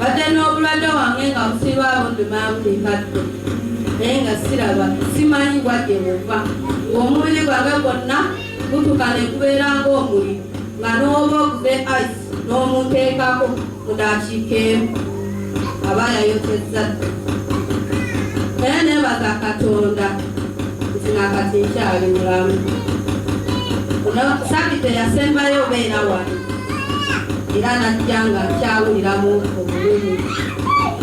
badde n'obulwadde wange nga busirwawo ndumaamu limbadde naye nga siraba simanyi bwadde buva ng'omubiri gwange gwonna gutuka ne gubeera ng'omuli nga n'oba oguze ice n'omuteekako mu daakiika emu aba yayotezza naye nebaza katonda nti nakati nkyali mulamu sabite yasembayo obeera wano era najja nga nkyawuliramu obulumi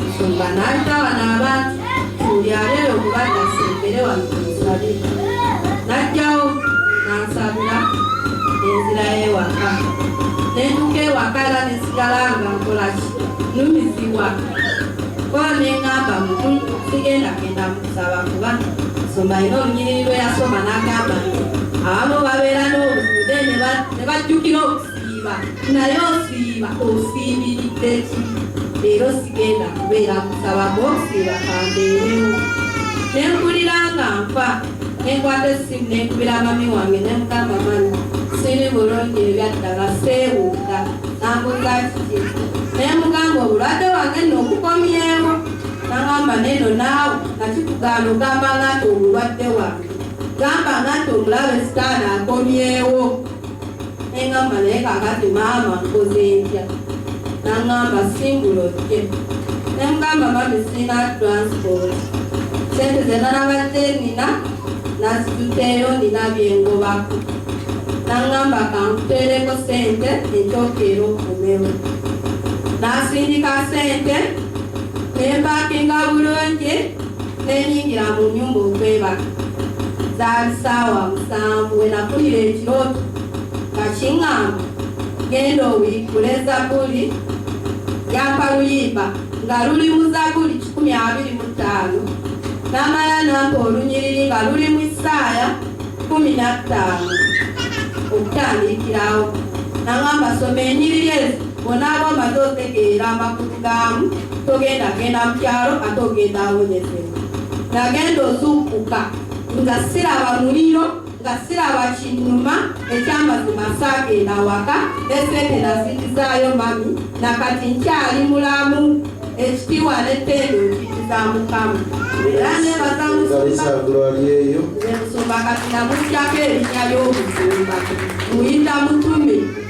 nsumba nalita bano abantu tulyalere okubadda sembere wano kunsabi najjawo nansabira enzira yewaka nentuka ewaka era nesigala nga nkolaki numizibwa kola nengamba mutu sigenda genda mukusaba kuba nsumba ina olunyiriri lweyasoma nagamba nti abamu babeera n'obuzibu ne bajjukira okusiiba naye osiiba osiibiridde ki leero sigenda kubeera kusaba ng'okusiiba kambeerewo ne mpulira nga nfa ne nkwata essimu ne nkubira mami wange ne mugamba mami siri bulungi ebyaddala seewuuka nambuuza kiki ne mugamba obulwadde wange nno okukomyewo nagamba neno naawe nakikugaana ogamba nga nti obulwadde wange gamba nga nti omulabe sitaani akomyewo engamba naye kakati maama nkoze ntya nangamba singulo kye nemugamba mami sirina transport sente zena nabadde nina nazituteeyo nina byengobako nangamba kankuteereko sente ekyokeera okumewo nasindika sente nempakinga bulungi Ne nnyingira mu nnyumba okwebaka. Zaali ssaawa musanvu we nafunira ekirooto nga king'amba, Genda obikkule Zabbuli ya Kaluyimba nga luli mu Zabbuli kikumi abiri mu ttaano. N'amala n'ampa olunyiriri nga luli mu Isaaya kkumi na ttaano okutandikirawo. N'ang'amba, Soma enyiriri ezo. bw'onaaba omaze otegeera amakulu gaamu togenda genda mu kyalo ate ogenda awonyezebwa nagenda ozuukuka nga siraba muliro nga siraba kinnuma ekyamazima saagenda awaka esente nazikizaayo mami nakati nkyali mulamu ekitiibwa n'ettendo nkikiza mukama era nebaza musumba kati namutyako erinya ly'obusumba muyita mutume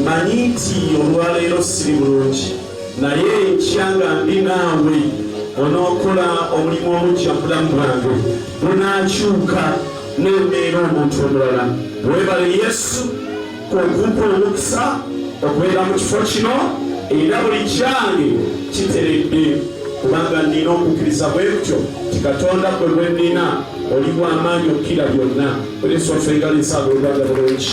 Mmanyi nti olwaleero siri bulungi, naye enkya nga ndi naawe onookola omulimu omujja mu bulamu bwange bunaakyuka n'embeera omuntu omulala. Weebale Yesu okumpa omukisa okubeera mu kifo kino era buli kyange kiteredde kubanga nnina okukkiriza bwe kutyo nti katonda gwe gwe nnina oli bw'amaanyi okukira byonna. Buli nsonfa engali nsaba olwala bulungi.